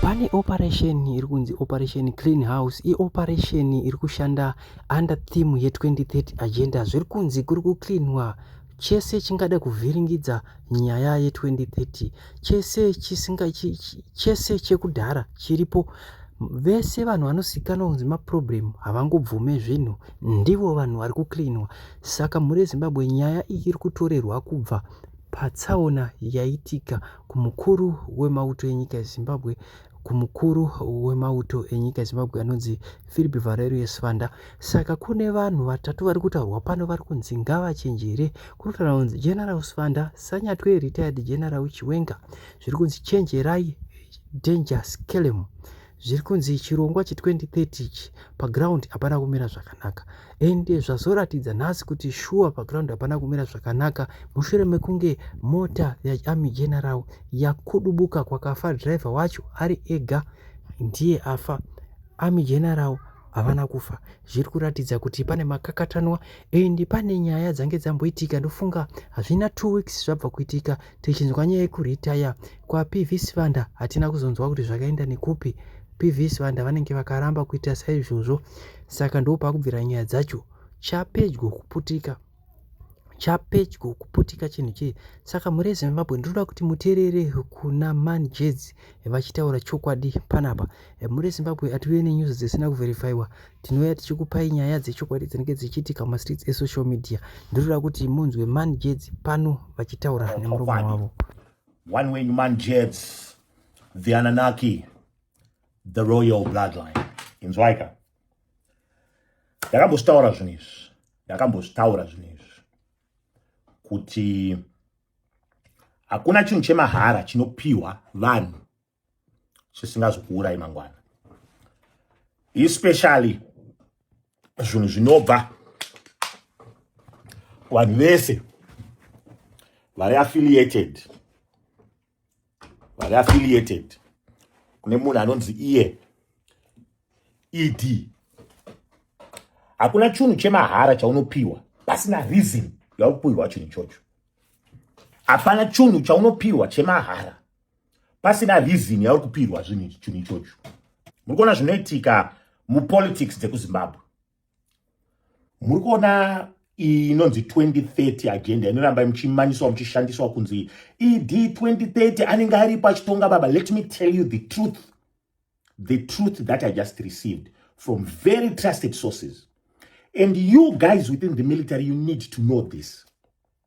pane operation iri kunzi operation clean house ioperation iri kushanda under theme ye2030 agenda zviri kunzi kuri kucleanwa chese chingada kuvhiringidza nyaya ye2030 chese chisinga chese chekudhara chiripo vese vanhu vanozikanwa kunzi maproblem havangobvume zvinhu ndivo vanhu vari kucleanwa saka mhuri yezimbabwe nyaya iyi iri kutorerwa kubva patsaona yaitika kumukuru wemauto enyika yezimbabwe kumukuru wemauto enyika yezimbabwe anonzi philip valerio svanda saka kune vanhu vatatu vari kutaurwa pano vari kunzi ngavachenjere kunotaura kunzi general svanda sanyatwe retired general chiwenga zviri kunzi chenjerai danger skelem zviri kunzi chirongwa che2030 ichi paground hapana kumira zvakanaka and zvazoratidza nhasi kuti shuwa paground hapana kumira zvakanaka mushure mekunge mota yaarmy general yakudubuka kwakafa driver wacho ari ega ndiye afa army general havana kufa zviri kuratidza kuti pane makakatanwa and pane nyaya dzange dzamboitika ndofunga hazvina two weeks zvabva kuitika tichinzwa nyaya yekuretire kwaPV Sibanda hatina kuzonzwa kuti zvakaenda nekupi. PV Sibanda vanenge vakaramba kuita saizvozvo, saka ndopakubvira nyaya dzacho. Chapedyo kuputika chapedyo kuputika chinhu chii saka mhuri yezimbabwe ndinoda kuti muteerere kuna man jezi vachitaura chokwadi panapa mhuri yezimbabwe atiuye nenyuzi dzisina kuverifyiwa tinouya tichikupai nyaya dzechokwadi dzinenge dzichiitika mumastreets esocial media ndinoda kuti munzwe man jeds pano vachitaura nemurume wavo one wenyu man jeds the ananaki the royal bloodline inzwaika ndakambozvitaura zvinhu izvi ndakambozvitaura zvinhu izvi kuti hakuna chinhu chemahara chinopiwa vanhu chisingazokuurai mangwana especially zvinhu zvinobva vanhu vese vari affiliated vari affiliated kune munhu anonzi iye ed hakuna chunhu chemahara chaunopiwa pasina reason yakupiwa chinhu ichocho hapana chunhu chaunopiwa chemahara pasina reason yauri kupirwa zvinhu chinhu ichocho muri kuona zvinoitika mupolitics dzekuzimbabwe muri kuona inonzi 2030 agenda inoramba muchimanyiswa muchishandiswa kunzi ed 2030 anenge aripo achitonga baba let me tell you the truth the truth that i just received from very trusted sources and you guys within the military you need to know this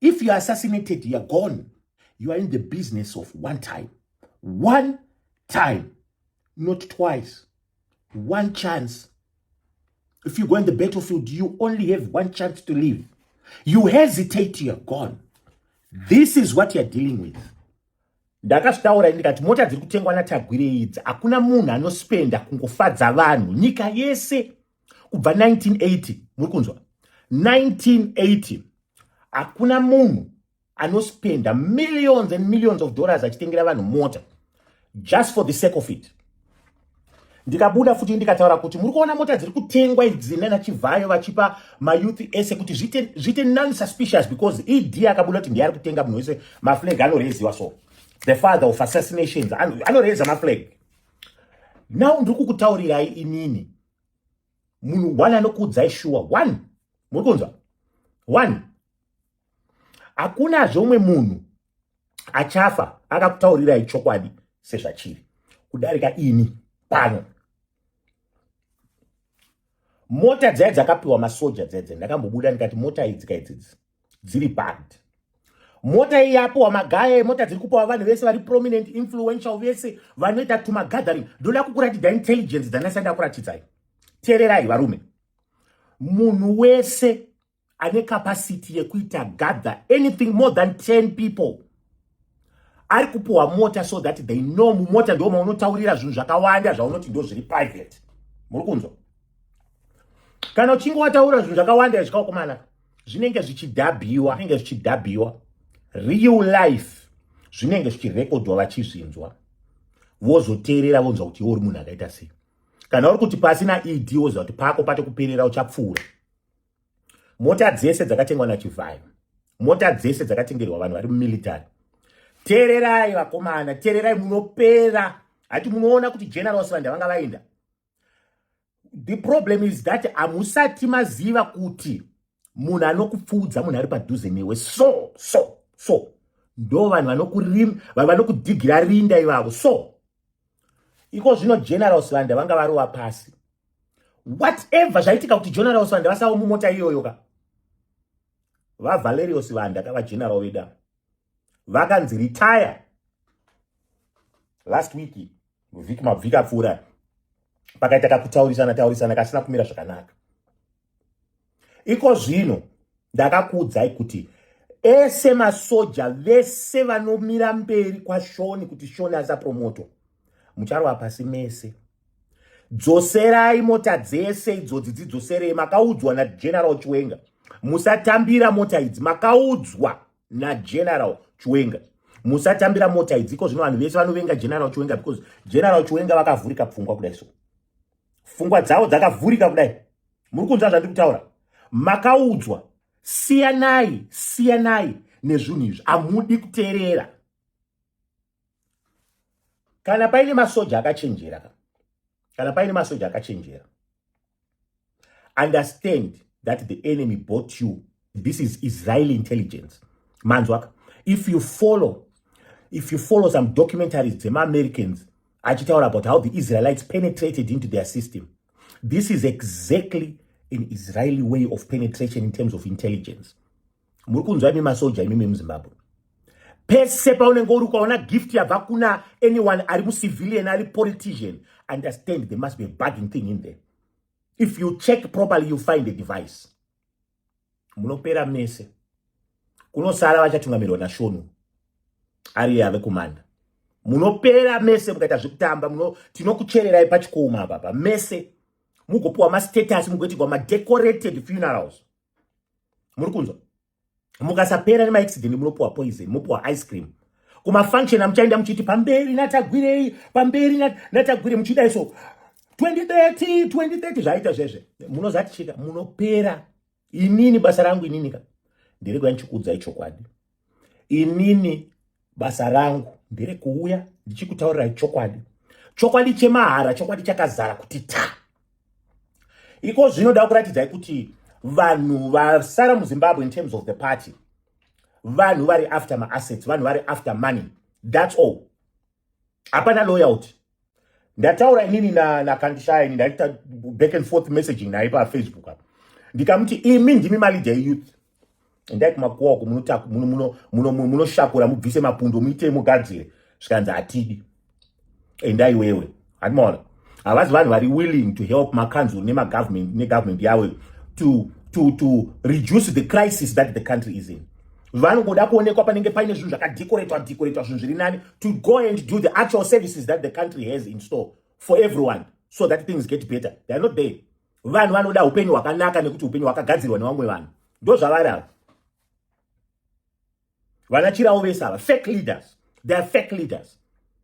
if you are assassinated you are gone you are in the business of one time one time not twice one chance if you go in the battlefield you only have one chance to live you hesitate you are gone this is what you are dealing with ndakazvitaura ndikati mota dziri kutengwa natagwire idzi hakuna munhu anospenda kungofadza vanhu nyika yese kubva 1980 muri kunzwa 1980 hakuna munhu anospenda millions and millions of dollars achitengera vanhu mota just for the sake of it ndikabuda futi ndikataura kuti muri kuona mota dziri kutengwa idzi nana chivhayo vachipa mayouth ese kuti zvite, zvite nonsuspicious because ed akabuda kuti ndiye ari kutenga munhu wese maflag anoreziwa so the father of assassinations anoreza maflag now ndiri kukutaurirai inini munhu one anokuudzai shuwa one muri kunzwa one hakunazve umwe munhu achafa akakutaurirai chokwadi sezvachiri kudarika ini pano mota dzai dzakapiwa masoja dzedze ndakambobuda ndikati mota idzi kaidzidzi dziri band mota iyi yapiwa magaya emota dziri kupiwa vanhu vese vari prominent influential vese vanoita tumagathering ndoda kukuratidza intelligence dzanasai ndakuratidzai teererai varume munhu wese ane capacity yekuita gather anything more than 10 people ari kupiwa mota so that they know mumota ndo maunotaurira zvinhu zvakawanda zvaunoti ndo zviri private muri kunzwa kana uchinge wataura zvinhu zvakawanda zvikaokomana zvinenge zvichidhabhiwa zvinenge zvichidhabhiwa real life zvinenge zvichirekodhwa vachizvinzwa vozoteerera vonzwa kuti iwe uri munhu akaita sei kana uri kuti pasina ed woziva kuti pako pate kuperera uchapfuura mota dzese dzakatengwa nachivhayo mota dzese dzakatengerwa vanhu vari mumilitary tererai vakomana tererai munopera hati munoona kuti generals vanda vanga vaenda the problem is that hamusati maziva kuti munhu anokupfuudza munhu ari padhuze newe so so so ndo vanhu vanokudhigira rinda ivavo so iko zvino general sibanda vanga varova pasi whatever zvaitika kuti general sibanda vasawo mumota iyoyo ka vavalerio sibanda ka vageneral veda vakanzi retire last week vhiki mabvika pfuura pakaita kakutaurisana taurisana kasina kumira zvakanaka iko zvino ndakakuudzai kuti ese masoja vese vanomira mberi kwashoni kuti shoni asapromoto mucharwa pasi mese dzoserai mota dzese idzodzi dzidzoserei makaudzwa nageneral chiwenga musatambira mota idzi makaudzwa nageneral chiwenga musatambira mota idzi iko zvino vanhu vese vanovenga general chiwenga because general chiwenga vakavhurika pfungwa kudai so fungwa dzavo dzakavhurika kudai muri kunzwa zvandiri kutaura makaudzwa siyanai siyanai nezvinhu izvi hamudi kuteerera kana paine masoja akachenjera ka kana paine masoja akachenjera understand that the enemy bought you this is israeli intelligence manzwaka if you follow if you follow some documentaries dzemaamericans achitaura about how the israelites penetrated into their system this is exactly an israeli way of penetration in terms of intelligence muri kunzwa imi masoja imi memuzimbabwe pese paunenge uri ukaona gift yabva kuna anyone ari mucivilian ari politician understand there must be a bugging thing in there if you check properly you find a device munopera mese kunosara vachatungamirwa nashonu ari yave kumanda munopera mese mukaita zvekutamba muno tinokuchererai pachikomo apapa mese mugopiwa mastatus mugoitirwa madecorated funerals muri kunzwa mukasapera nemaaccident munopuwa poison mopuwa ice cream kumafunction amuchaenda muchiti pamberi natagwirei pamberi natagwire muchidai so 2030 2030 zvaita zvezve munozaticheka munopera inini basa rangu ininika ndiri kuya ndichikuudzai chokwadi inini basa rangu ndere kuuya ndichikutaurirai chokwadi chokwadi chemahara chokwadi chakazara kuti ta iko zvinoda kuratidzai kuti vanhu vasara muzimbabwe in terms of the party vanhu vari after maassets vanhu vari after money thats all hapana loyalty ndataura inini nakandishaya ini ndaita back and forth messaging naye pafacebook apa ndikamuti imi ndimi malidha eyouth endai kumakuwa uko munoshakura mubvise mapundo muite mugadzire zvikanzi hatidi endai wewe handimaona havazi vanhu vari willing to help makanzuru nemagovernment negovernment yavo to, to, to reduce the crisis that the country is in vanongoda kuonekwa panenge paine zvinhu zvakadecoratwa decoratwa zvinhu zviri nani to go and do the actual services that the country has in store for everyone so that things get better they are not there vanhu vanoda upenyu hwakanaka nekuti upenyu hwakagadzirwa nevamwe vanhu ndo zvavari ava vanachirawo vese ava fake leaders they are fake leaders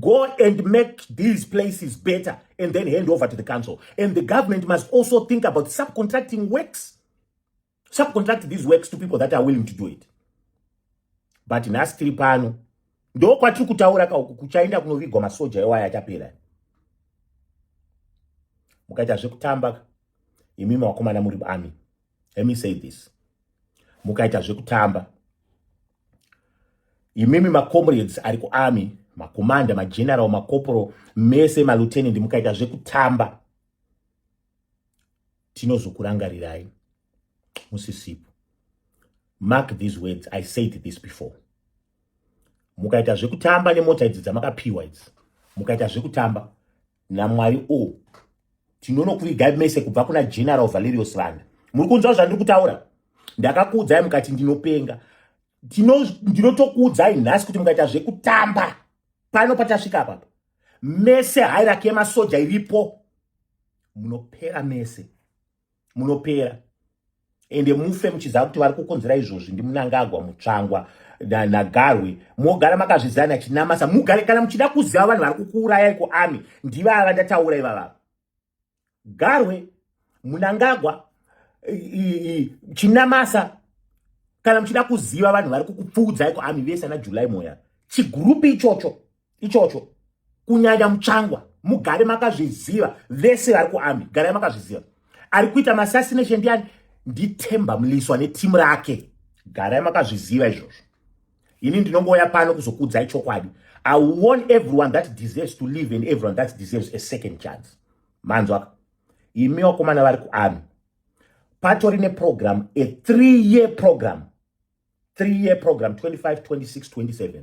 Go and make these places better and then hand over to the council. And the government must also think about subcontracting works. Subcontract these works to people that are willing to do it. But nhasi tiri pano ndo kwatiri kutaura ka uku kuchaenda kunovigwa masoja ewaya achapera. Mukaita zvekutamba imimi wakomana muri army. let me say this mukaita zvekutamba imimi macomrades ari kuarmy makomanda mageneral makoporo mese malutenant mukaita zvekutamba tinozokurangarirai musisipo mark these words i said this before mukaita zvekutamba nemota idzi dzamakapiwa idzi mukaita zvekutamba namwari o oh. tinonokuvigai mese kubva kuna general valerius vanda muri kunzwa zvandiri kutaura ndakakuudzai mukati ndinopenga ndinotokuudzai nhasi kuti mukaita zvekutamba pano patasvika apapa mese hairaki yemasoja iripo munopera mese munopera ende mufe muchiziva kuti vari kukonzera izvozvi ndimunangagwa mutsvangwa nagarwe mogara makazvizana chinamasa mugare kana muchida kuziva vanhu vari kukuurayai kuami ndivava ndataura ivavava garwe munangagwa chinamasa kana muchida kuziva vanhu vari kukupfuudzai kuami vese ana july moya chigurupi ichocho ichocho kunyanya mutsvangwa mugare makazviziva vese vari kuarmy garai makazviziva ari kuita masasination ndiani ndithemba muliswa netimu rake garai makazviziva izvozvo ini ndinongouya pano kuzokuudzai chokwadi i warn everyone that deserves to live and everyone that deserves a second chance manzwaka imi vakomana vari kuarmy patori neprogramu a three year program three year program 25 26 27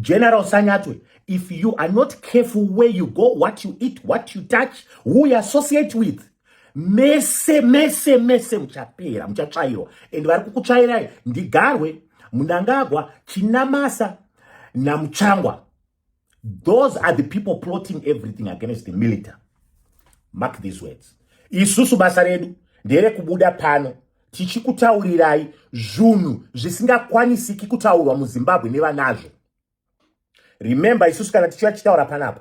General Sanyatwe, if you are not careful where you go, what you eat, what you touch, who you associate with, mese mese mese muchapera muchatsvairwa and vari kukutsvairai ndigarwe munangagwa chinamasa namuchangwa those are the people plotting everything against the military mark these words isusu basa redu nderekubuda pano tichikutaurirai zvunhu zvisingakwanisiki kutaurwa muzimbabwe nevanazvo remember isusu kana tichiva tichitaura panapa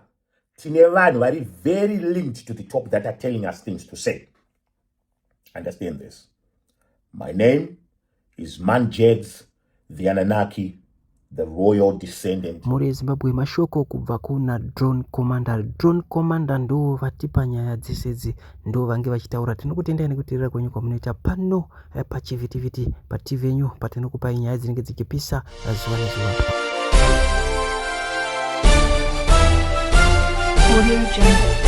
tine vanhu vari very linked to the top that are telling us things to say understand this my name is manjegs the Anunnaki, the royal descendant. Mhuri yeZimbabwe mashoko kubva kuna Drone Commander. Drone Commander ndo vatipa nyaya dzese idzi ndo vange vachitaura. Tinokutendai nekuteerera kwenyu kwamunoita pano eh, pachivhitivhiti paTV yenyu patinokupai nyaya dzinenge dzichipisa eh, zuva nezuva. Audio Jungle.